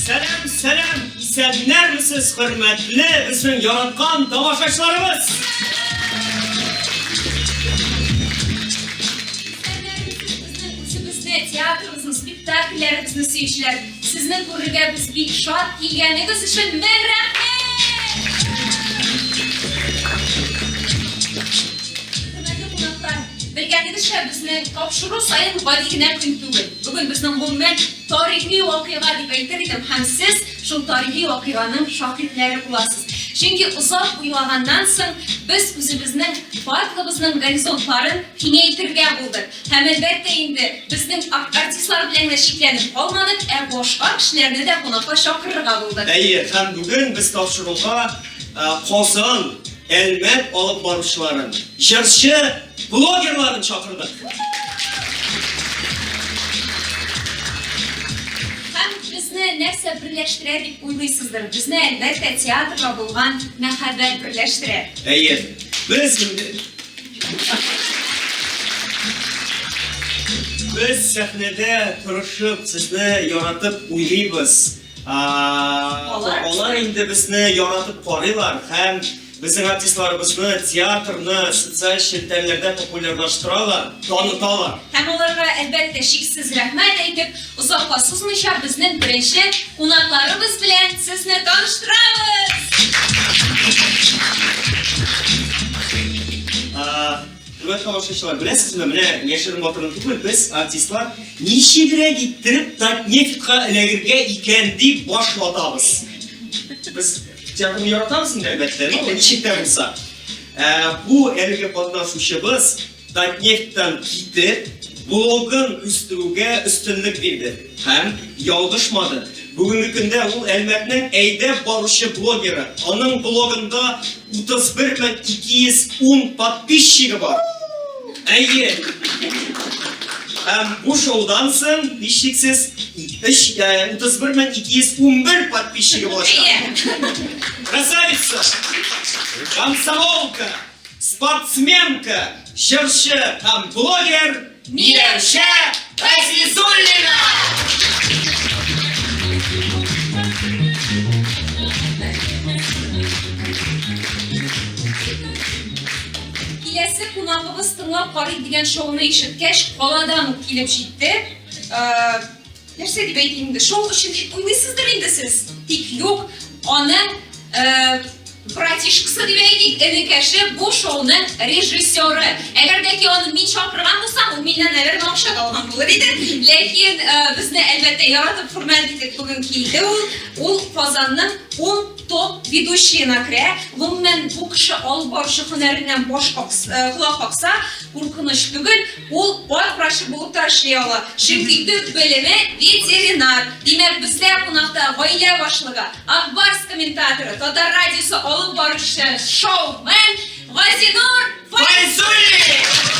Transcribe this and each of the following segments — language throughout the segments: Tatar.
Сәлам, сәлам! Исәннәрмесез, хөрмәтле безнең яраткан тамашачыларыбыз! Театрымызның спектакльләребезне сөючеләр, сезне күрергә без бик шат килгәнегез өчен мең рәхмәт! Хөрмәтле кунаклар, белгәнегезчә, безне тапшыру саен гади генә көн түгел. Бүген безнең гомумән Тарихи вакыйга дип әйтер идем, һәм сез шул тарихи вакыйганың шаһитләре буласыз. Чөнки озак уйлаганнан соң без үзебезнең барлыгыбызның горизонтларын киңәйтергә булдык. Һәм әлбәттә инде безнең артистлар белән генә чикләнеп калмадык, ә башка кешеләрне дә кунакка чакырырга булдык. Әйе, һәм бүген без тапшыруга Казан Әлмәт алып баручыларын, җырчы, блогерларын чакырдык. Һәм безне нәрсә берләштерә дип уйлыйсыздыр? Безне әлбәттә театрга булган мәхәббәт берләштерә. Әйе. Без Без сәхнәдә тырышып, сезне яратып уйлыйбыз. Алар инде безне яратып карыйлар һәм безнең артистларыбызны, театрны социаль челтәрләрдә популярлаштыралар, таныталар. Һәм аларга, әлбәттә, шиксез рәхмәт әйтеп, озакка сузмыйча, безнең беренче кунакларыбыз белән сезне таныштырабыз! Хөрмәтле алышучылар, беләсезме, менә яшерен батырын түгел, без артистлар ничегрәк иттереп Татнефтька эләгергә икән дип баш ватабыз. Без театрны яратабыз инде, әлбәттә, но ничек тә булса. Ә, бу әлеге катнашучыбыз Татнефтьтан китеп, блогын үстерүгә өстенлек бирде. Һәм ялгышмады. Бүгенге көндә ул Әлмәтнең әйдәп баручы блогеры. Аның блогында 31210 подписчигы бар. Әйе! Һәм бу шоудан соң, һичшиксез, 31211 подписчигы булачак. Әйе! Красавица! Комсомолка! Спортсменка, җырчы һәм блогер Миләүшә Газизуллина! Киләсе кунагыбыз тыңлап карыйк дигән шоуны ишеткәч, каладан ук килеп җитте. Э, Нәрсә дип әйтим инде, шоу өчен дип уйныйсыздыр инде сез. Тик юк, аны братишкасы дип әйтик, энекәше бу шоуны режиссеры. Әгәр дә ки аны мин чакырган булсам, ул миннән наверное акча да алган булыр иде. Ләкин безне әлбәттә яратып хөрмәт итеп бүген килде ул. Ул Казанның ун топ ведущиена керә. Гомумән бу кеше алып баручы һөнәреннән баш какса, колак какса, куркыныч түгел. Ул ат врачы булып та эшли ала, чөнки төп белеме, ветеринар. Димәк, бездә кунакта гаилә башлыгы, Ак Барс комментаторы, Татар радиосы алып баручысы, шоумен Газинур Файзуллин!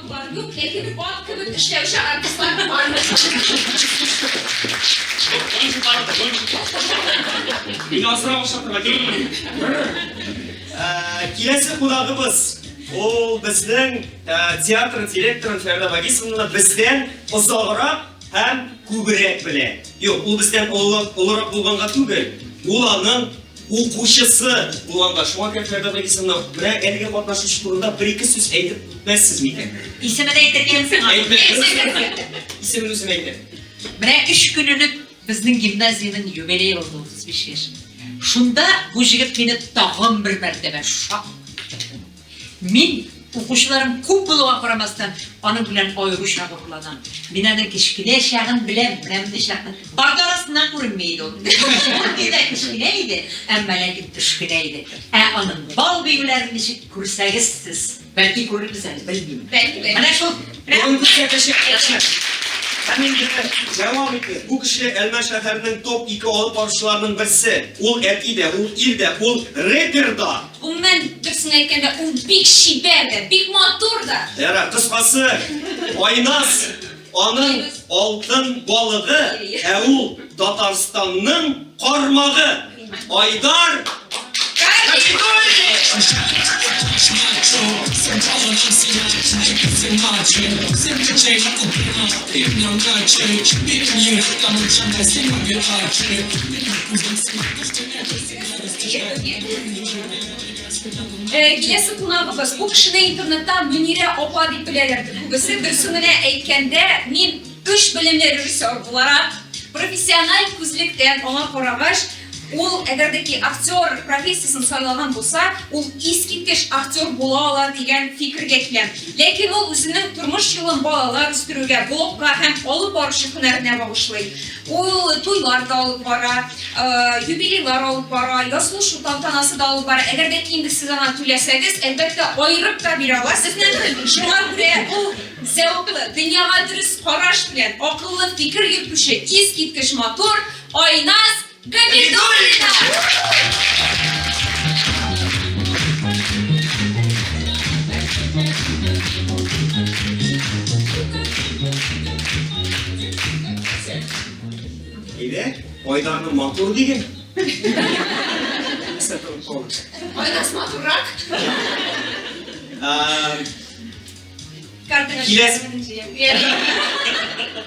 Бар юк, ләкин ат кебек эшләүче артистлар бар. Мин асрау шатырга Киләсе кунагыбыз ул безнең театр директоры Фәрдә Багисовна бездән озаграк һәм күбрәк белә. Юк, ул бездән олырак булганга түгел, ул аның Укучысы булганда, шуңа кереп Фәрдәү Гыйсанов белән әлеге катнашучы турында бер-ике сүз әйтеп үтмәссез микән? Исемен әйтергәнсең аны. Исемен үзем әйтәм. Менә эш көн элек безнең гимназиянең юбилей узды 35 яшь. Шунда бу җегет мине тагын бер мәртәбә шактый Мин, укучыларым күп булуга карамастан, аның белән аеруча горурланам. Мин аның кечкенә чагын беләм, менә мондый чакны. Парта арасыннан күренми иде ул. Шундый да кечкенә иде, әмма ләкин төшкенә иде. Ә аның бал биюләрен ничек күрсәгез сез? Бәлки күрербез әле, белмим. Бәлки, бәлки. Менә шул. Бүгенге чәкәчәк кеше. Һәм инде дәвам итеп, бу кеше Әлмәт шәһәренең топ-ике алып баручыларының берсе. Ул әти дә, ул ир дә, ул репер да. Гомумән, дөресен әйткәндә, ул бик чибәр дә, бик матур да. Ярар, кыскасы, Айназ аның алтын балыгы, ә ул Татарстанның кармагы. Айдар Кабидуллин! Э, киләсе кунагыбыз бу кешене интернеттан мөнирә апа дип беләләр күбесе дөресен генә әйткәндә мин өч белемле режиссер буларак профессиональ күзлектән аңа карагач ул әгәр дә ки актер профессиясен сайлаган булса ул искиткеч актер була ала дигән фикергә киләм ләкин ул үзенең тормыш юлын балалар үстерүгә блогка һәм алып баручы һөнәренә багышлый Ул туйлар да алып бара, юбилейлар алып бара, язылышу тантанасы да алып бара. Әгәр дә инде сез аңа түләсәгез, әлбәттә, аерып та бирә ала сезне. Шуңа күрә ул зәвыклы, дөньяга дөрес караш белән, акыллы фикер йөртүче, искиткеч матур Айназ Габидуллина! Әйдә, Айдарны матур диген. Айдарс матуррак.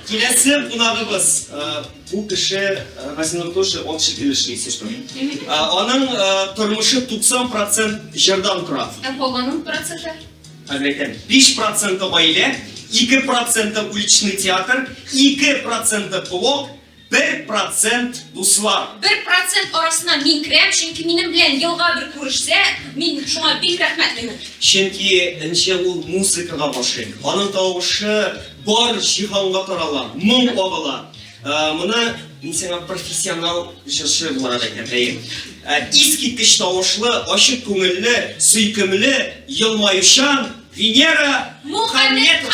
Киләсе кунагыбыз бу кеше Василий Тоши общий өлешли сестра. Аның тормышы 90% җырдан тора. Ә калган проценты? Хәзер әйтәм, биш проценты гаилә, ике проценты уличный театр, ике проценты блок, бер процент дуслар. Бер процент арасына мин керәм, чөнки минем белән елга бер күрешсә, мин шуңа бик рәхмәтлемен. Чөнки энче ул музыкага гашыйк. Аның тавышы бар җиһанга тарала, моң кагыла. Моны мин сиңа профессионал җырчы буларак әйтәм. Искиткеч тавышлы, ачык күңелле, сөйкемле, елмаючан Венера Мухаммедова.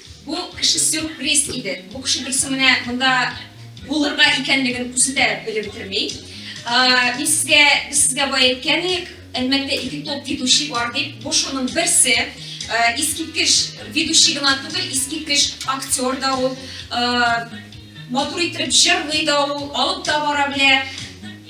Бу кеше сюрприз иде. Бу кеше дөресе менә монда булырга икәнлеген үзе дә белеп бетерми. Мин сезгә без сезгә бай әйткән идек, әлмәттә ике топ ведущий бар дип, бу шуның берсе. Искиткеч ведущий гына түгел, искиткеч актер да ул. Матур итеп җырлый да ул, алып та бара белә.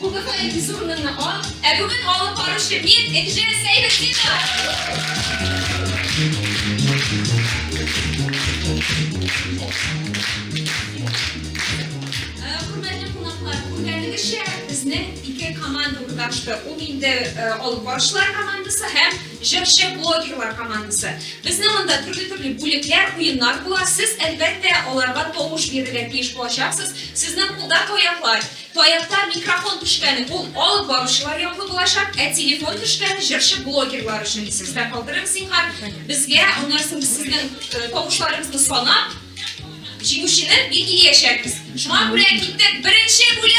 Кубокны әтисе урынына ал, ә бүген алып баручы мин Энҗе Сәйфетдинова. Ачты. Ул инде э, алып баручылар командасы һәм җырчы блогерлар командасы. Безнең анда төрле-төрле бүлекләр, уеннар була. Сез әлбәттә аларга тавыш бирергә тиеш булачаксыз. Сезнең кулда таяклар, Таякта микрофон төшкәне бу алып баручылар яклы булачак, ә телефон төшкәне җырчы блогерлар өчен. Исегездә калдырыгыз, зинһар. Безгә аннан соң без сезнең э, тавышларыгызны санап, җиңүчене билгеләячәкбез. Шуңа күрә киттек беренче бүлек!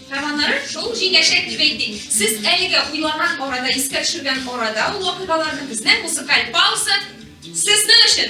Һәманнары шул җиңәчәк дип әйтик. Сез әлегә уйлаган арада, искә төшергән арада ул вакыйгаларны безнең музыкаль пауза сезнең өчен!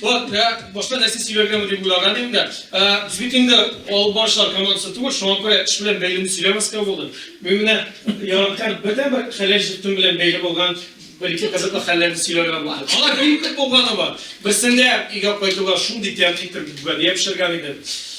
Вот, ә, башка нәрсә сөйләргәме дип уйлаган идем дә. Ә, Без бит инде алып барышлар командасы түгел, шуңа күрә эш белән бәйлене сөйләмәскә булдым. Мин менә яраткан бердән бер хәләл җитем белән бәйле булган бер-ике кызыклы хәлләрне сөйләргә булдым. Алар бик күп булганы бар. Берсендә өйгә кайтуга шундый тәмле итеп гүбәдия пешергән идем.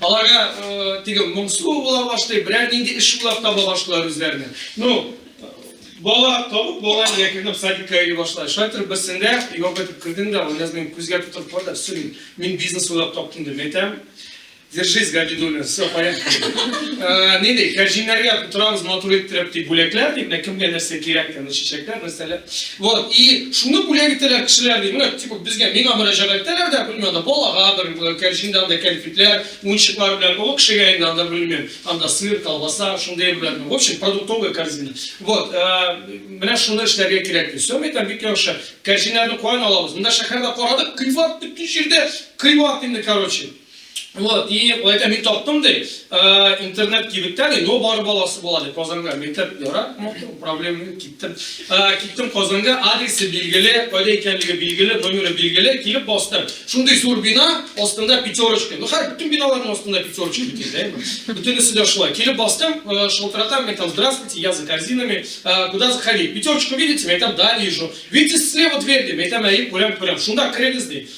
Аларга теге моңсу була башлый, берәр нинди эш уйлап таба башлыйлар үзләренә. Ну, бала табып, бала өйгә кердем, садикка йөри башлады. Шулай торып берсендә юап итеп кердем дә, Гөлназ минем күзгә тотып карады, все, мин бизнес уйлап таптым дип әйтәм. Держись, Габидуллин, все, поехали. Э, не дей, кәрҗиннәргә торабыз матур иттереп, дип бүләкләр, дип, кемгә нәрсә кирәк, чәчәкләр, нәрсәләр. Вот, и шуны бүләк итәләр кешеләр, ди, менә, типа, безгә, миңа мөрәҗәгать итәләр дә, белмим, анда балага бер э, кәрҗиндә анда кәнфитләр, уенчыклар белән, олы кешегә инде анда белмим, анда сыр, колбаса, шундый белән, в общем, продуктовая корзина. Вот, э, менә шуны эшләргә кирәк ди. Все, әйтәм, бик яхшы. Кәрҗиннәрне каян алабыз? Монда шәһәрдә карадык, кыйбат бөтен җирдә, кыйбат инде, короче. Вот, и это не топ тумды, э, интернет кибеттә ди, но бар баласы була ди, Казанга мәктәп яра, проблема киттем. Э, киттем Казанга, адресы билгеле, кайда икәнлеге билгеле, номеры билгеле, килеп бастым. Шундый зур бина, астында пятерочка. Ну, хәр бүтән биналарның астында пятерочка бит, да? Бүтәнесе дә шулай. Килеп бастым, э, шалтыратам, мәктәп, здравствуйте, я за корзинами, э, куда заходить? Пятерочку видите? Мәктәп, да, вижу. Видите, слева дверь, мәктәп, әйе, күрәм, күрәм. Шунда керегез ди.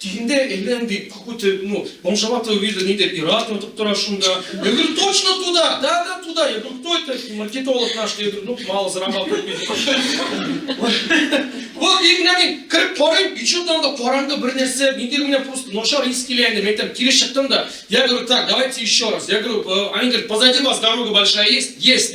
Тиңдә әйлән дип какой-то, ну, бомжоватого вида ниндидер ир-ат ятып тора шунда. Я говорю, точно туда, да, да, туда. Я говорю, кто это? Маркетолог наш. Я говорю, ну, мало зарабатывает. Вот, и менә мин кереп карыйм, и что-то анда караңгы бер нәрсә, миндер менә просто начар ис килә инде. Мин әйтәм, кире чыктым да. Я говорю, так, давайте еще раз. Я говорю, «Э, они говорят, позади вас дорога большая есть? Есть.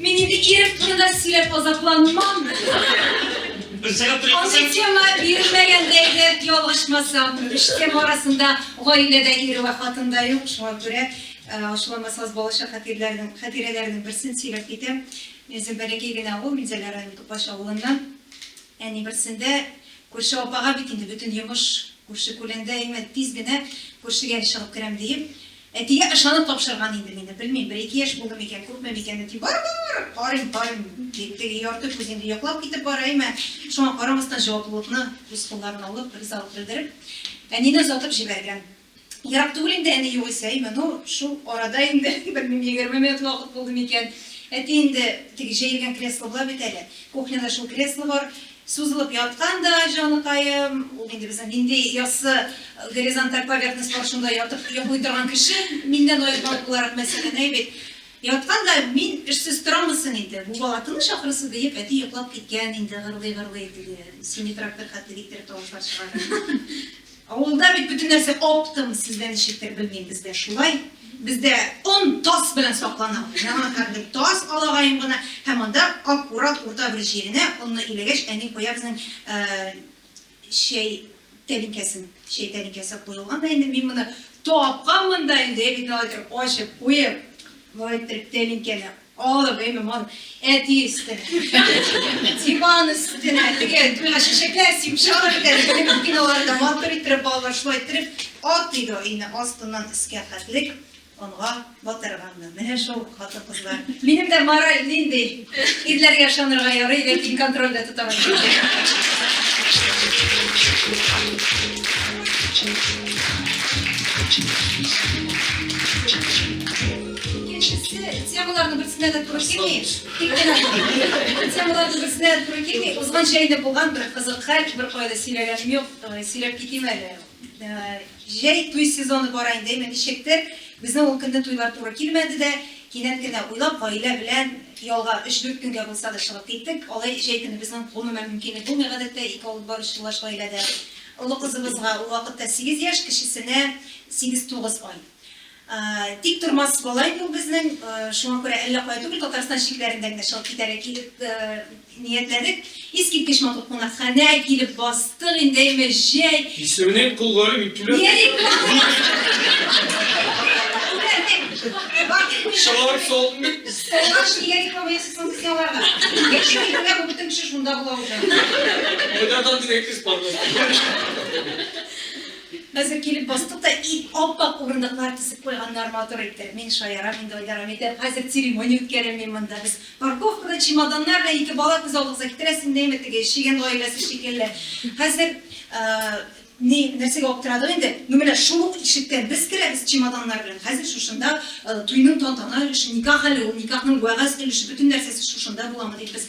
Мин инде ирем турында сөйләп азапланмам. Берсәгә туры Андый икән. тема бирелмәгәндәйдер, ялгышмасам. Өч тема арасында гаиләдә ире вә хатын да юк. Шуңа күрә э, ачуламасагыз балачак хатирәләрнең, хатирәләрнең берсен сөйләп китәм. Мин үзем бәләкәй генә авыл, Минзәлә районы Тупаш авылыннан. Әни берсендә күрше апага бит инде бөтен йомыш күрше-күләндә имән тиз генә күршегә чыгып керәм диеп, Әтигә ышанып тапшырган инде мине, белмим, бер-ике яшь булды микән, күпме микән, әти, бар-бар, карыйм, карыйм, дип, теге ярты күз инде йоклап китеп бара, әймә, шуңа карамастан җаваплылыкны үз кулларына алып, ризалык белдереп, әнине озатып җибәргән. Ерак түгел инде әни югыйсә, әймә, ну, шул арада инде, белмим, егерме минут вакыт булды микән, әти инде, теге җәелгән кресло була бит әле, кухняда шул кресло бар, Сузылып яткан да, җаныкаем, ул инде безнең нинди яссы горизонталь поверхность бар, шунда ятып йоклый торган кеше, миннән аермалы буларак, мәсәлән, әй бит. Яткан да, мин эшсез торамы соң инде, бу бала тыныч, ахрысы, диеп, әти йоклап киткән инде, гырлый-гырлый, теге сине трактор хәтле иттереп тавышлар чыгара. Авылда бит бөтен нәрсә оптом, сездә ничектер, белмим, бездә шулай. Бездә он тас белән саклана. Яңа хәтле тас алагаем гына һәм анда аккурат урта бер җиренә онны иләгәч, әни куя безнең чәй тәлинкәсен. Чәй тәлинкәсе куелган да инде, мин моны тапканмын да инде, әбине алай иттереп ачып куеп, болай иттереп тәлинкәне Алып, гыйлем алып, әти өстенә, диван өстенә, теге туйга чәчәкләр сибеп чыгарып бетәр, биналар да матур иттереп, балалар шулай иттереп, ат иде ул өйне астыннан өскә хәтлек онга батырганнар. Менә шул хатын-кызлар. Минем дә мораль нинди? Ирләргә ышанырга ярый, ләкин контрольдә тота алмыйм. Thank you. Икенчесе, темаларның берсенә дә туры килми, тик кенә темаларның берсенә дә туры килми, узган җәйдә булган бер кызык хәл, беркайда сөйләгәнем юк, сөйләп китим әле. Җәй туй сезоны бара инде, әйме ничектер, безнең ул көнне туйлар туры килмәде дә, кинәт кенә уйлап, гаилә белән ялга өч-дүрт көнгә булса да чыгып киттек. Алай җәй көне безнең, гомумән, мөмкинлек булмый, гадәттә, ике алып баручы юлдаш гаиләдә. Олы кызыбызга ул вакытта сигез яшь, кечесенә сигез-тугыз ай. Тик тормас болай бу безнең. Шуңа күрә әллә кая түгел, Татарстан чикләрендә генә чыгып китәргә килеп ниятләдек. Искиткеч матур кунакханә, килеп бастык инде, әйме, җәй. Исемнең кулгары бик түбән. Нерик кулгары? Чылар салын бит. Столга өчен нигә диплом бирәсез соң сез аларга? Яшәү итүгә бу бөтен кеше шунда була уже. Кайдан андый әйтегез, пардон. Хәзер килеп бастык та ит ап-ак урындыклар тезеп куйганнар матур итеп. Мин шаярам инде, Айдарга әйтәм, хәзер церемония үткәрәм мин монда. Без парковкада чемоданнар белән ике бала күз алдыгызга китерә син дә әйме теге чегән гаиләсе шикелле. Хәзер ни нәрсәгә аптырадык инде, ну менә шул ук ишектән без керәбез чемоданнар белән, хәзер шушында туйның тантана өлеше, никах әле ул, никахның вәгазь өлеше, бөтен нәрсәсе шушында буламы дип без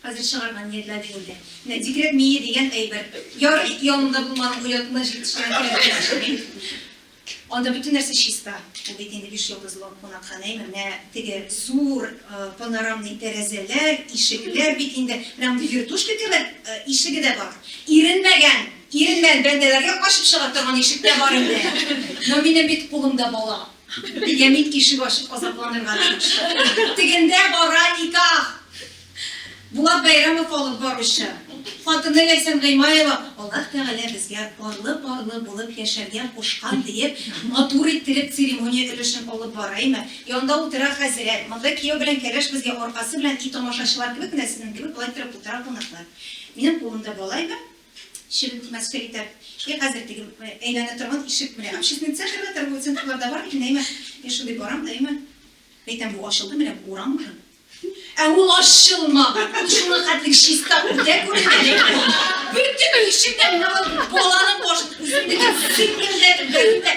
Хәзер чыгарга ниятләде инде. Менә дикрәк мие дигән әйбер. Ярый, янымда булманың оятына җитешкән кыяфәтчеме? Анда бөтен нәрсә чиста. Ул бит инде биш йолдызлы кунакханәме? Менә теге зур панорамный тәрәзәләр, ишекләр бит инде. Менә мондый вертушка кебек ишеге дә бар. Иренмәгән, иренмән бәндәләргә ачып чыга торган ишек тә бар инде. Но минем бит кулымда бала. Беньямин ишек ачып азапланырга тиеш. Тегендә бара никах! Булат Бәйрәмов алып баручы. Хатыны Ләйсән Гыймаева, Аллаһ Тәгалә безгә парлы-парлы булып яшәргә кушкан, диеп, матур иттереп церемония өлешен алып бара име, янда утыра хәзрәт, монда кияү белән кәләш безгә аркасы белән и тамашачылар кебек менә сезнең кебек болай торып утыра кунаклар. Минем кулымда бала име? Чебен тимәскә итәр. Йә, хәзер теге әйләнә торган ишек, менә общественный центрда, торговый центрлар да бар микән, әйме? Мин шундый барам да, әйме? Әйтәм, бу ачылды, менә бу урам узын. Ә ул ачылмаган. Ул шуңа хәтлек чиста, үтә күренә, әйме? Бөтен ишек тә менә ул баланың башын үзенекен сыйпыйм дә, бәрим дә.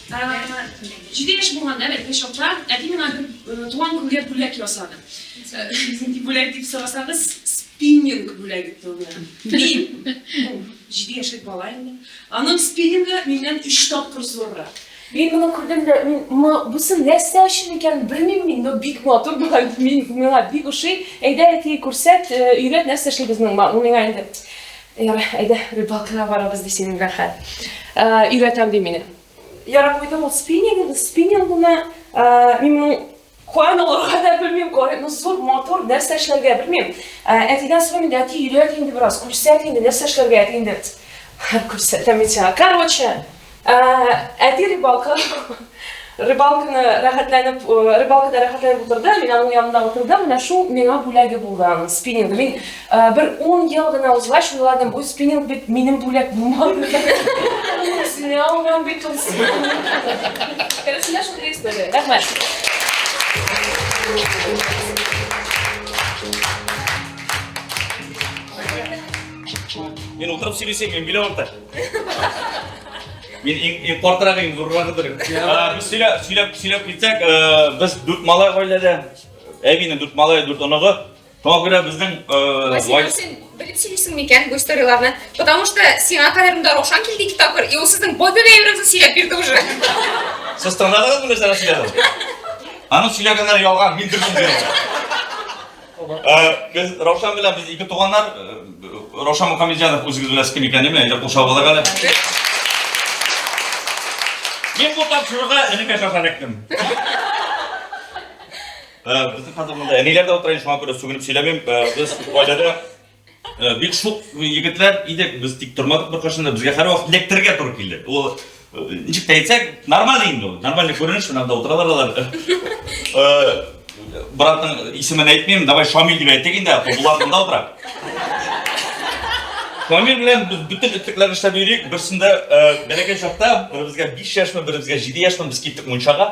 Җиде яшь булганда, бәлки бер чакта, әти миңа бер туган күнгә бүләк ясады. Нинди бүләк дип сорасагыз, спиннинг бүләге тылына. Мин, җиде яшьлек бала инде, аның спиннингы миннән өч тапкыр зуррак. Мин моны күрдем дә, мин, бусы нәрсә өчен икәнен белмим мин, но бик матур була, мин, миңа бик ошый. Әйдә, әти, күрсәт, өйрәт, нәрсә эшли безнең ма, ул миңа инде. Ярый, әйдә, рыбалкага барабыз, ди синең Рәхәт. Өйрәтәм, ди мине. Ярый, куйдым ул спиннинг, спиннингны. Мин моның каян алырга да белмим, кая, ну, зур, матур, нәрсә эшләргә белмим. Әтидән сорыйм инде, әти, өйрәт инде бераз, күрсәт инде, нәрсә эшләргә, әти инде, күрсәтәм мин сиңа. Короче, Ә, әти рыбалка, рыбалканы рәхәтләнеп, рыбалкада рәхәтләнеп утырды, мин аның янында утырдым, менә шул миңа бүләге булды аның спиннинг. Мин ә, бер 10 ел гына узгач уйладым, бу спиннинг бит минем бүләк булмады. Үзенә алмам бит ул спиннинг. Керәсенә шундый история. Рәхмәт. Мин утырып сөйлесем, мин биле Мин иң иң картырак иң зуррагыдыр. Без сөйләп сөйләп сөйләп китсәк, без дүрт малай гаиләдә. Әбинең дүрт малай, дүрт оныгы. Шуңа күрә безнең Василий, син белеп сөйлисең микән бу историяләрне? Потому что сиңа кадәр монда Раушан килде ике тапкыр, и ул сезнең бобига әйберен сөйләп бирде уже. Сез тыңладыгыз мені нәрсә сөйләдем? Аның сөйләгәннәре ялган, мин дөресен сөйләдем. Без Раушан белән без ике туганнар. Раушан Мухаммедҗанов үзегез белән кем икәнен әйтә кушабызлар әле. Мин бу тапшыруга энекә шаша эләктем. Безнең хәзер монда әниләр дә утыра, шуңа күрә сүгенеп сөйләмим. Без гаиләдә Э, бик шук егетләр идек, без тик тормадык беркайчан да, безгә һәрвакыт эләктерергә туры килде. Ул э, ничек тә әйтсәк, нормаль инде ул, нормальный күренеш, менә монда утыралар алар. Э, братның исемен әйтмим, давай Шамил дип әйтик инде, Булат монда утыра. Шамил белән без бөтен этлекләрне эшләп йөрик, берсендә бәләкәй чакта, беребезгә 5 яшьме, беребезгә 7 яшьме, без киттек мунчага.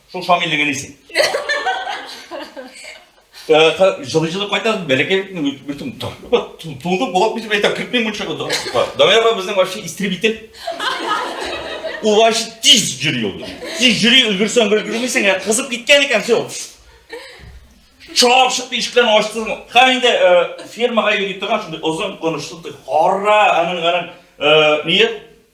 Шул Шамилнең әнисе. Жылы-жылы кайтасыз, бәләкәй бөтен туды болап китеп әйтә, кертмей мунча кылды. Давай апа безнең вообще истребитель. Ул вообще тиз йөри ул. Тиз йөри, өлгерсәң бер күрмисең, ә кызып киткән икән, все. Чап чыкты ишектән ачты. Һәм инде фермага йөри торган шундый озын кылычлы, хара, аның аның ние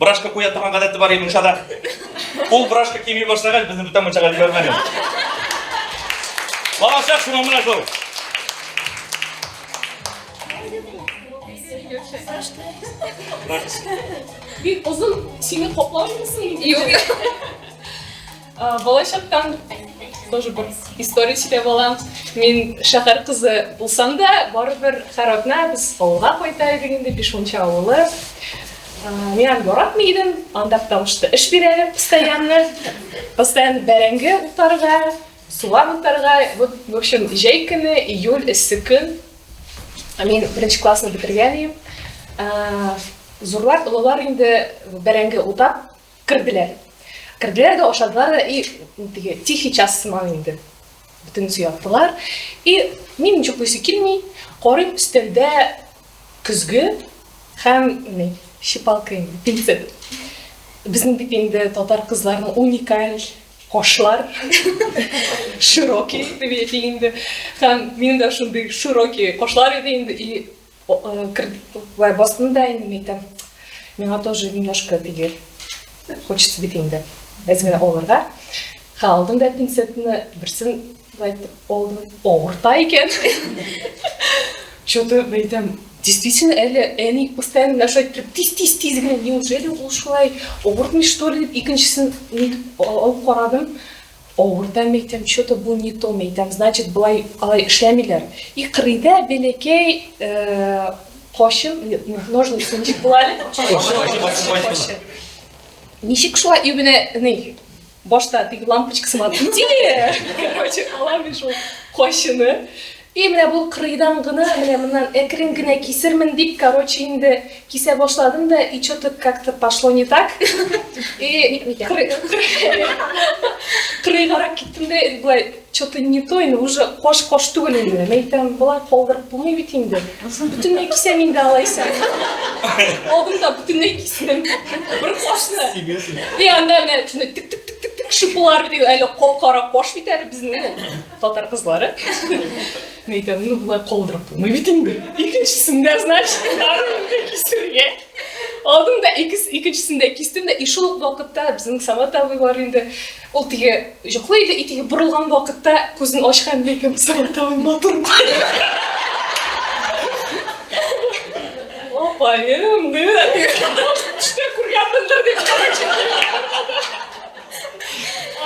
Брашка куя торган гадәте бар Имуншада. Ул брашка кими башлагач, безне бүтән мунчага җибәрмәде. Балачак шуңа менә шул. Бик озын сине коплар мисың? Юк. Балачактан тоже бер история сөйләп алам. Мин шәһәр кызы булсам да, барыбер һәр атна без авылга кайта идек инде, Бишмунча авылы. Мин аны яратмый идем, анда потому что эш бирәләр постоянно. Постоянно бәрәңге утарга, суган утарга. Вот, в общем, җәй көне, июль, эссе көн. Мин беренче классны бетергән идем. Зурлар, олылар инде бәрәңге утап Керделәр. Керделәр дә ашадылар да, и теге тихий час сыман инде. Бөтенесе яттылар. И мин ничек буйсы килми, карыйм өстәлдә көзге һәм ни, шипалка инде, пинсе. Безнең бит инде татар кызларының уникаль кошлар, широкий, дип әйтик инде. Һәм мин дә шундый широкий кошлар иде инде, и Вә бастым да инде мәйтәм, миңа тоже немножко теге хочется бит инде әз генә алырга. Ха, алдым да пинцетны, берсен әйтеп алдым, авырта икән. Что-то мәйтәм, действительно әле әни постоянно нәрсә әйтеп, тиз тиз тиз генә, неужели ул шулай авыртмый что ли дип икенчесен нитеп алып карадым. Авырда мәйтәм, че-то бу не то мәйтәм, значит болай алай эшләмиләр. И кырыйда бәләкәй качын, ножницы ничек була әле? Ничек шулай и менә ни башта теге лампочкасы бар иде. Короче, алам мин шул качыны. И менә бу кырыйдан гына, менә моннан әкрен генә кисермен дип, короче, инде кисә башладым да, и че то как то пошло не так, и кырыйгарак киттем дә, болай че то не то, инде уже кош кош түгел инде, мин әйтәм, болай калдырып булмый бит инде, бөтенләй кисәм инде алайса, алдым да бөтенләй кистем, бер кошны, и анда менә тик тик тик тик тик шыпылар, әле кап кара кош бит әле безнең. Татар кызлары. Мин әйтәм, ну болай калдырып булмый бит инде. Икенчесендә, значит, барымны кисергә. Алдым да икенчесендә кистем дә, и шул ук вакытта безнең Самат абыйлар инде ул теге йоклый иде, и теге борылган вакытта күзен ачкан ләкин Самат абый матур. Апаем, да. Төштә күргәнмендер дип.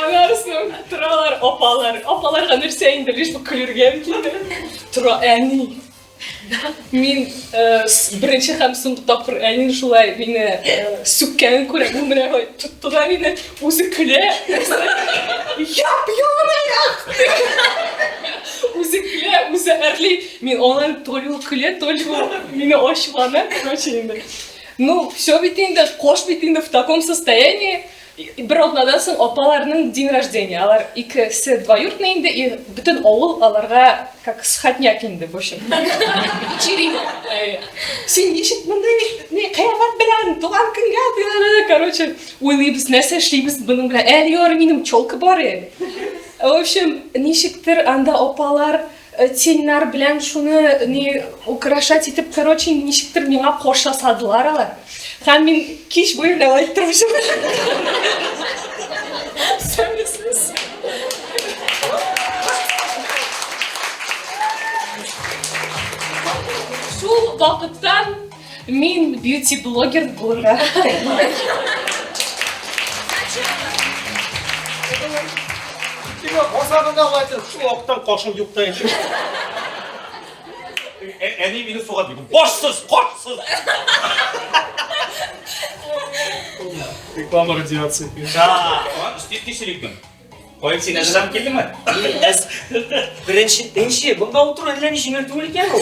Анарсың, торалар апалар. Апаларга нәрсә инде, лишь бы көлергә килде. Тора әни. Мин э, беренче һәм соңгы тапкыр әнин шулай мине э, сүккәнен күрә, бу менә ой, тотты да мине, үзе көлә. Яп, яп, Үзе көлә, үзе әрли. Мин аңа то ли ул көлә, то ли ул мине ачулана, короче инде. Ну, все бит инде, кош бит инде в таком состоянии. Бер атнадан соң апаларның день рождения. Алар ике се двоюртный инде, и бөтен авыл аларга как сходняк инде бу чын. Чирина. Син ничек монда ни кыямәт белән туган көнгә дигәндә, короче, уйлыйбыз, нәрсә эшлибез буның белән. Әле ярый минем челка бар әле. В общем, ничектер анда апалар Тельнар белән шуны ни украшать итеп, короче, ничектер миңа кош ясадылар алар. Һәм мин кич буе гына итеп торып Мин бьюти-блогер булырга телим. Тимә, базарында алайсың, шул вакыттан кашым юк та инде. Әни мине суга дип. Башсыз, картсыз. Реклама радиации. Да, тиз тиз Кайын син әзердан килдеңме? Әз. Беренче, беренче, бунда утыру әллә ни җиңел түгел икән ул.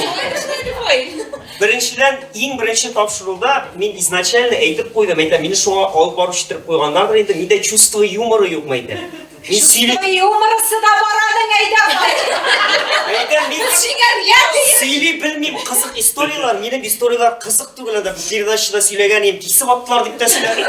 Беренчедән, иң беренче тапшыруда мин изначально әйтеп куйдым, әйтә, мине шуңа алып барып читереп куйганнардыр инде, миндә чувство юмора юкмы әйтә. Мин сөйли... Юморысы да бар аның әйдә. Әйтә, мин сөйләргә сөйли белмим кызык историяләр, минем историяләр кызык түгел, анда передачада сөйләгән идем, кисеп аттылар дип тә сөйләдем.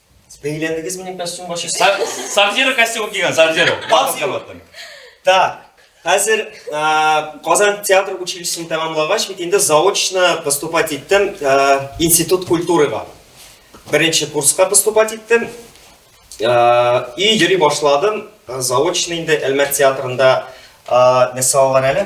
Бәйләдегез минем костюмга чи. Сабзиро костюм кигән, Сабзиро. Так. Хәзер Казан театр училищесын тәмамлагач, бит инде заочно поступать иттем институт культурага. Беренче курска поступать иттем. И йөри башладым. Заочно инде Әлмәт театрында нәрсә алган әле?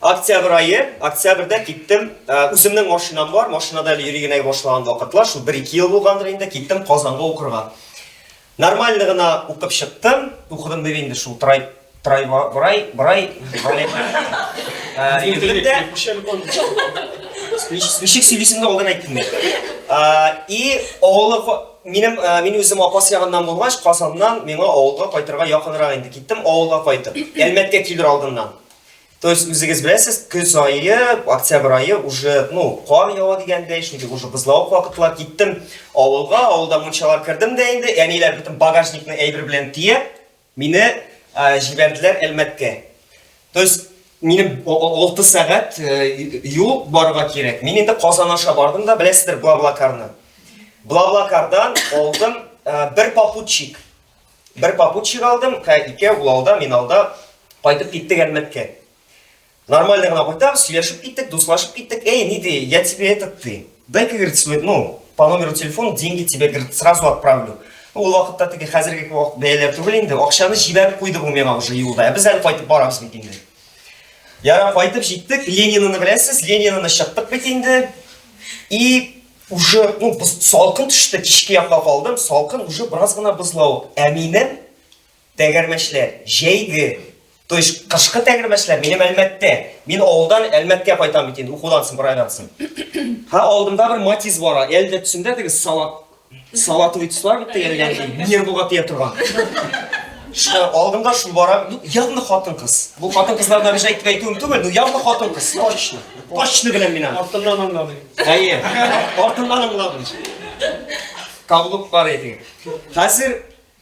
Октябрь ае, октябрьдә киттем, э, үземнең машинам бар, машинада әле йөри генә башлаган вакытлар, шул 1-2 ел булгандыр инде, киттем Казанга укырга. Нормально гына укып чыктым, укыдым дип инде шул трай трай брай брай Егетдә Ничек сөйлисеңдә алдан әйттем мин. И авылы минем мин үзем апас ягыннан булгач, Казаннан миңа авылга кайтырга якынрак инде. Киттем авылга кайтып. Әлмәткә килер алдыннан. То есть, үзегез беләсез, көз айы, октябрь айы уже, ну, кар ява дигәндәй, шундый уже бозлавык вакытлар киттем авылга, авылда мунчалар кердем дә инде, әниләр бөтен багажникны әйбер белән тиеп, мине ә, җибәрделәр Әлмәткә. То есть, минем 6 сәгать э, юл барырга кирәк. Мин инде Казан аша бардым да, беләсездер, Блаблакарны. Блаблакардан алдым э, бер попутчик. Бер попутчик алдым, һә икәү, ул алда, мин алда, кайтып киттек Әлмәткә. Нормально гына кайтам, сөйләшеп киттек, дуслашып киттек. Эй, ни ди, я тебе этот ты. Дай-ка, говорит, свой, ну, по номеру телефона деньги тебе, говорит, сразу отправлю. Ну, ул вакытта теге хәзерге вакыт бәяләр түгел инде, акчаны җибәреп куйды бу миңа уже юлда. Ә без әле кайтып барабыз бит инде. Яра кайтып җиттек, Ленинаны беләсез, Ленинаны чыктык бит инде. И Уже, ну, без салкын төште, кичке якка калдым, салкын, уже бераз гына бозлау. Ә минем тәгәрмәчләр, җәйге, то есть кышкы тәгәрмәчләр минем Әлмәттә. Мин авылдан Әлмәткә кайтам бит инде, укудан соң, бер айдан соң. Ха, алдымда бер матиз бара, әле дә төсендә теге салат, салатовый төслар бит тегелгән, нервыга тия торган. Шул алдымда шул бара, ну, явно хатын-кыз. Бу хатын-кызлардан рәҗәйтеп әйтүем түгел, ну, явно хатын-кыз, точно. Точно беләм мин аны. Артыннан аңладым. Әйе. Артыннан аңладым. Кабылып бар идең. Хәзер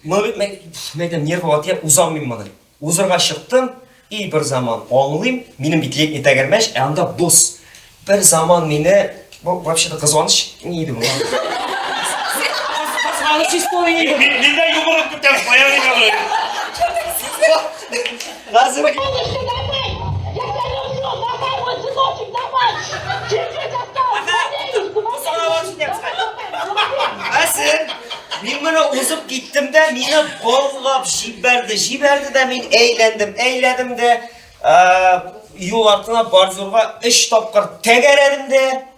мөбит мәйтәм нервы атып узам мин моны. Узырга чыктым, и бер заман аңлыйм, минем бит летний тәгәрмәч, ә анда боз. Бер заман мине бу вообще да кызганыч ни иде бу? Кызганыч история. Нидә югырып күтәреп куя Газрык. Әсен, мин моны узып киттем дә, мине болгап җибәрде. Җибәрде дә мин әйләндем, әйләдем дә, юл артына бар зурга 3 тапкыр тәгәрәдем дә.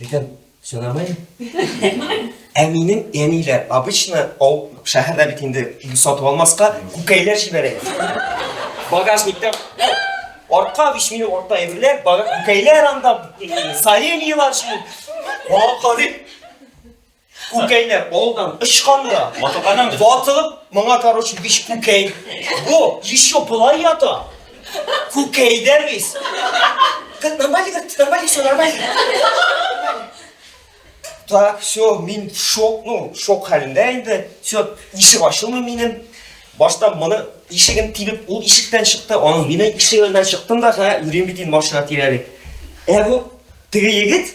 Бөтен сорауын. Ә минем әниләр обычно ау шәһәрдә бит инде ил сатып алмаска күкәйләр җибәрә. Багажниктан артка биш минут артта әйберләр, багаж күкәйләр анда саен елашу. Аңа карыйм. Күкәйләр алдан очкан да, Матылганнан ватылып, моңа короче биш күкәй. Бу еще болай ята. Күкәй дә бис. Как нормально, как нормально, все нормально. Так, все, мин шок, ну, шок хәлендә инде. Все, ишек ачылмый минем. Башта моны ишеген тибеп, ул ишектән чыкты, аның мине ишегеннән чыктым да, һә, үрим бит инде машина тирәли. Ә бу теге егет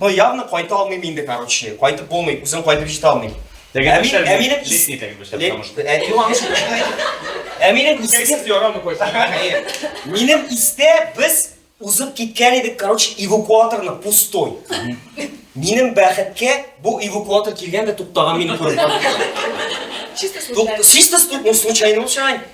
Но явно кайта алмыйм инде, короче. Кайтып булмый, үзем кайтып җитә алмыйм. Теге Әмин, яшәр Әминем лет- кис... летний теге яшәр, Лет- потому что- Ә, юан шул. Әминем кисәген... Исегез ярамый кайта. Әйе. Минем истә без узып киткән идек, короче, эвакуаторны пустой. Минем бәхеткә бу эвакуатор килгән дә туктаган мине күреп. Чисто Тук- случайно. Чисто стук, ну случайно, ну, случайно.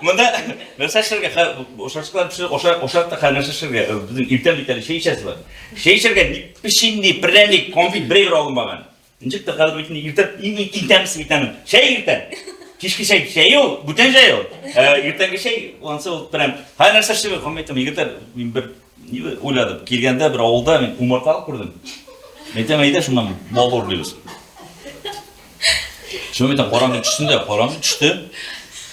Монда нәрсә эшләргә? Хә, ашарчыклар пешер, ашар, ашар та хә нәрсә эшләргә? Э, Безнең иртән бит әле чәй эчәсе бар. Чәй эчәргә ни- печенье, пряник, конфет бер генә алынмаган. Ничек тә хәзер бит инде иртә иң иң иң тәмлесе бит аның. Чәй иртән. Кичке чәй, чәй ул, бүтән чәй ул. Ә иртәнге чәй ансы ул прям. Хә нәрсә эшләргә? Һәм әйтәм, егетләр, мин бер ни уйладым. Килгәндә бер авылда мин умарталык күрдем. Әйтәм, әйдә шуннан бал урлыйбыз. Шөмәйтә караңгы төшсен дә, караңгы төште.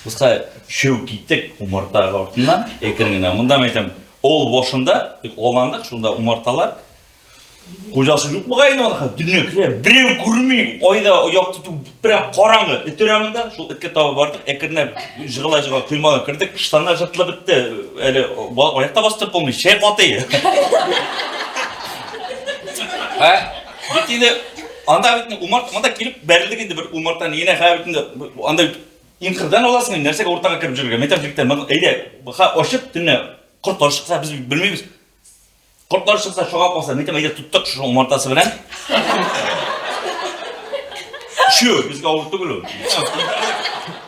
Кыска шөү киттек умарта артыннан, әкрен генә. Монда мен әйтәм, ол башында, аландык, шунда умарталар. Хуҗасы юк бугай инде аны, дөнья килә, берәү күрми, айда аяк тоту, прям караңгы, эт өрә монда, шул эткә таба бардык, әкренләп жыгыла жыгыла коймага кердек, штаннар жыртылып бетте, әле аякта бастырып булмый, чәй катый. Бит инде анда бит умарт монда килеп бәрелдек инде бер умарта нигенә хә бит инде анда инкырдан аласың инде нәрсәгә уртага кереп җөргә метр җиктән моны әйдә ха ачып төнлә кортлар чыкса без белмибез кортлар чыкса шуга калса митем әйдә тоттык шуның умартасы белән чү безгә авыр түгел ул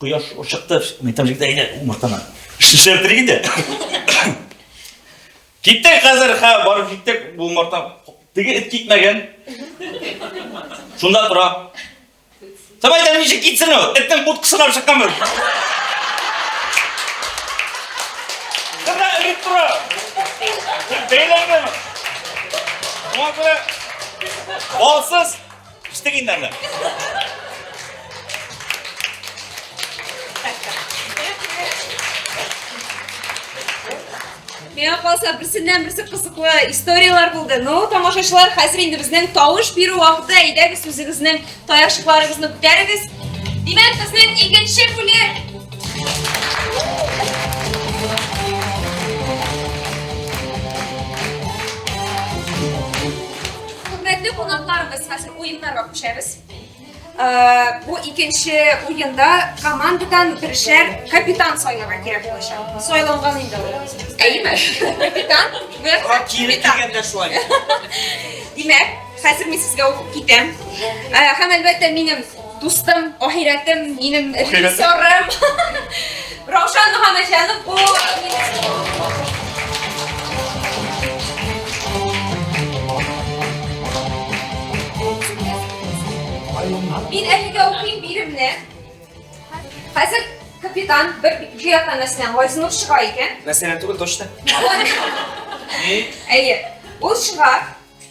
Кояш ур чыкты, мин там җигдә иде умыртаны. Шешер дриг иде. Киттек хәзер, ха, барып җиттек, бу умырта. Теге эт китмәгән. Шунда тора. Сабай да ничек китсен ул? Этнең будкасына чыккан бер. Кына эт тора. Бәйләнгән. Мазра. Алсыз. Кичтек инде аны. Миңа калса берсеннән берсе кызыклы историяләр булды. Ну, тамашачылар, хәзер инде безнең тавыш бирү вакыты. Әйдәгез үзегезнең таякчыкларыгызны күтәрегез. Димәк, безнең икенче бүлек. Хөрмәтле кунакларыбыз, хәзер уеннарга күчәбез. Э, бу икенче уенда командадан бершәр капитан сайларга кирәк булачак. Сайланган инде ул. Әйеме? Капитан. Курак кире кигәндә шулай. Димәк, хәзер мин сезгә укып китәм. Э, һәм әлбәттә минем Дустым, ахирәтем, минем режиссерым. Раушан Мөхәммәтҗанов бу. Мин әлегә укыйм биремне. Хәзер капитан бер җыя танасынан Газнур чыга икән. Мәсәлән, түгел, точно. Әйе. Ул чыга,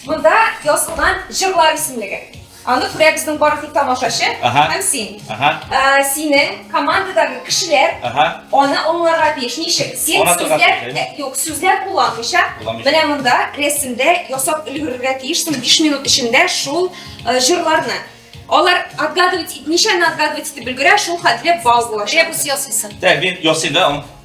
Монда язылган җырлар исемлеге. Аны күрә безнең барлык тамашачы һәм син. Ә, синең командадагы кешеләр аны аңларга тиеш. Ничек? Син сүзләр, юк, сүзләр кулланмыйча, менә монда рәсемдә ясап өлгерергә тиешсең 5 минут эчендә шул э, җырларны. Алар отгадывать, ничәне отгадывать итеп өлгерә, шул хәтле балл була. Ребус ясыйсың. Так, мин ясыйм да,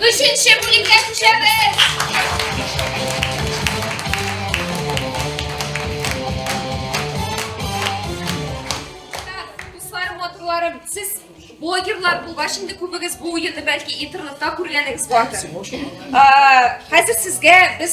Өченче бүлеккә күчәбез. Сез блогерлар булгач инде күбегез бу уенны бәлки интернетта күргәнегез бардыр. Хәзер сезгә без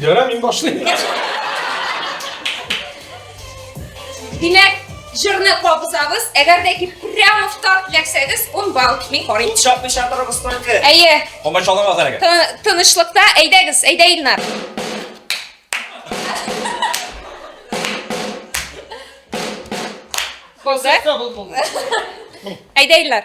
Ярар, мин башлыйм. Димәк, җырны кабызабыз. Әгәр дә ки прямов тарт ләксәгез, ун балл мин карыйм. Ул чапмый чатырыбыз только. Әйе. Комач аламаз әлегә. Тынычлыкта әйдәгез, әйдә Илнар. Коза. Әйдә Илнар.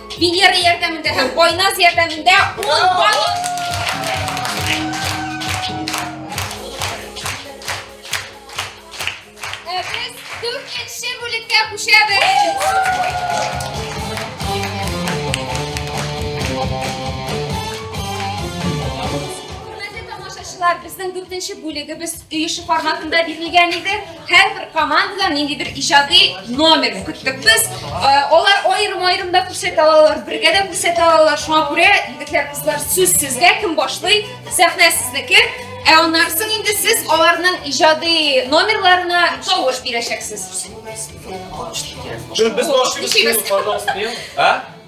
Венера ярдәмендә һәм Байназ ярдәмендә ул балык Ә без дүртенче бүлеккә күчәбез. Хөрмәтле тамашачылар, безнең дүртенче бүлегебез Өй эше форматында бирелгән иде. Һәрбер командадан нинди бер иҗади номер көттек без. Э, алар аерым-аерым да күрсәтә алалар, бергә дә күрсәтә алалар. Шуңа күрә егетләр, кызлар, сүз сезгә кем башлый? Сәхнә сезнеке. Ә аннан соң инде сез аларның иҗади номерларына тавыш бирәчәксез. Без башлыйбыз, пожалуйста. А?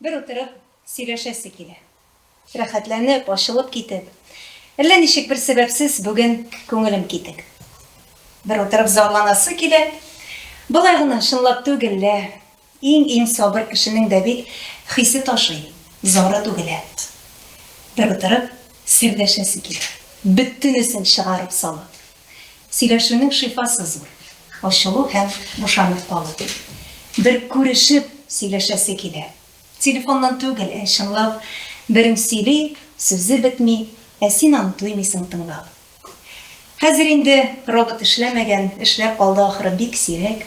Бер утырып сөйләшәсе килә. Рәхәтләнеп, ачылып китеп. Әллә ничек бер сәбәпсез бүген күңелем китек. Бер утырып зарланасы килә. Болай гына, чынлап түгел лә. Иң-иң сабыр кешенең дә бит хисе ташый, зары түгелә. Бер утырып сөйләшәсе килә. Бөтенесен чыгарып салып. Сөйләшүнең шифасы зур, ачылу һәм бушанып калу. Бер күрешеп сөйләшәсе килә. Телефоннан түгел, ә чынлап. Берең сөйли, сүзе бетми, ә син аны туймыйсың тыңлап. Хәзер инде робот эшләмәгән, эшләп калды ахры, бик сирәк.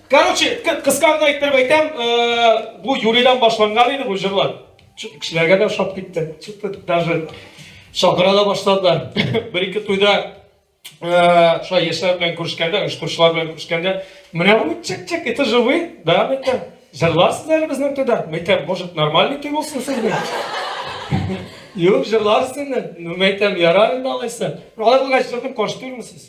Короче, кысканда итеп әйтәм, бу Юридан башланган иде бу җырлар. Кешеләргә дә ошап китте. Чыты даже шакыра да башладылар. Бер ике туйда шулай яшьләр белән күрешкәндә, оештыручылар белән күрешкәндә, менә бу чик-чик, это же вы, да, мәйтәм. Җырларсыз әле безнең туйда. Мәйтәм, может, нормальный туй булсын сезнең? Юк, җырларсыз инде. Мәйтәм, ярар инде алайса. Алай булгач, җырдым, каршы түгелме сез?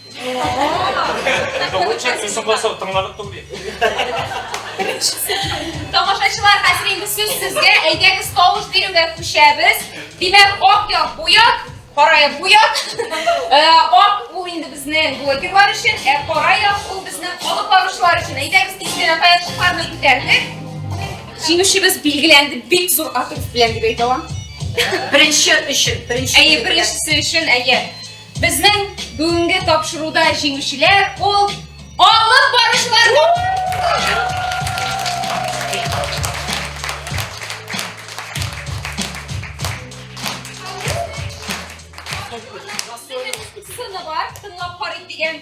Тамашачылар, хәзер инде сүз сезгә. Әйдәгез, тавыш бирүгә күчәбез. Димәк, ак як бу як, кара як бу як. Ак ул инде безнең блогерлар өчен, ә кара як ул безнең алып баручылар өчен. Әйдәгез, кичкенә каячыкларны күтәрдек. Җиңүчебез билгеләнде, бик зур атып белән дип әйтә алам. Беренче өчен, беренче. Әйе, беренчесе өчен, әйе. Безнең бүгенге тапшыруда җиңүчеләр ул алып баручылар. Сыны бар, тыңлап карыйк дигән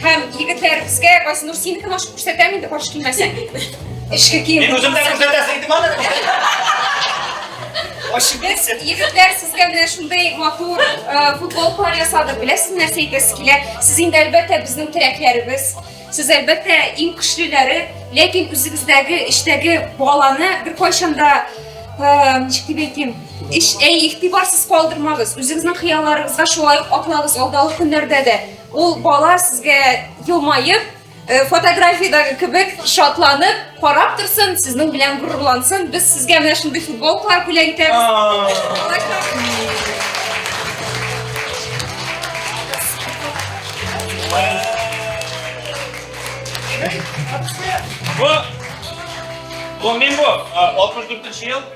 Һәм егетләр безгә Газинур синең генә ашып күрсәтәм инде баш килмәсәң. Эшкә кием. Мин үзем дә күрсәтәсең идем аны. Ашып Без егетләр сезгә менә шундый матур э, футболкалар ясадык. Беләсез нәрсә әйтәсе килә? Сез инде әлбәттә безнең терәкләребез. Сез әлбәттә иң көчлеләре, ләкин үзегездәге эчтәге баланы беркайчан да э, ничек дип әйтим? Иш, әй, игътибарсыз калдырмагыз. Үзегезнең хыялларыгызга шулай ук атлагыз алдагы көннәрдә дә. Ул бала сезгә елмаеп, э, фотографиядәге кебек шатланып карап торсын, сезнең белән горурлансын. Без сезгә менә шундый футболкалар бүләк итәбез. Бу, бу мин бу, 64 ел.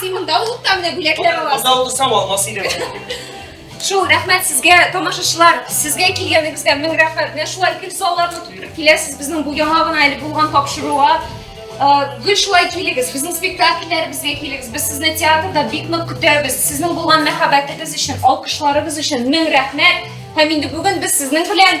син монда булып та менә бүләкләр аласың анда утырсам алмас идем шул рәхмәт сезгә тамашачылар сезгә килгәнегезгә мең рәхмәт менә шулай гел салларны тутырып киләсез безнең бу яңа гына әле булган тапшыруга гел шулай килегез безнең спектакльләребезгә килегез без сезне театрда бик нык көтәбез сезнең булган мәхәббәтегез өчен алкышларыгыз өчен мең рәхмәт һәм инде бүген без сезнең белән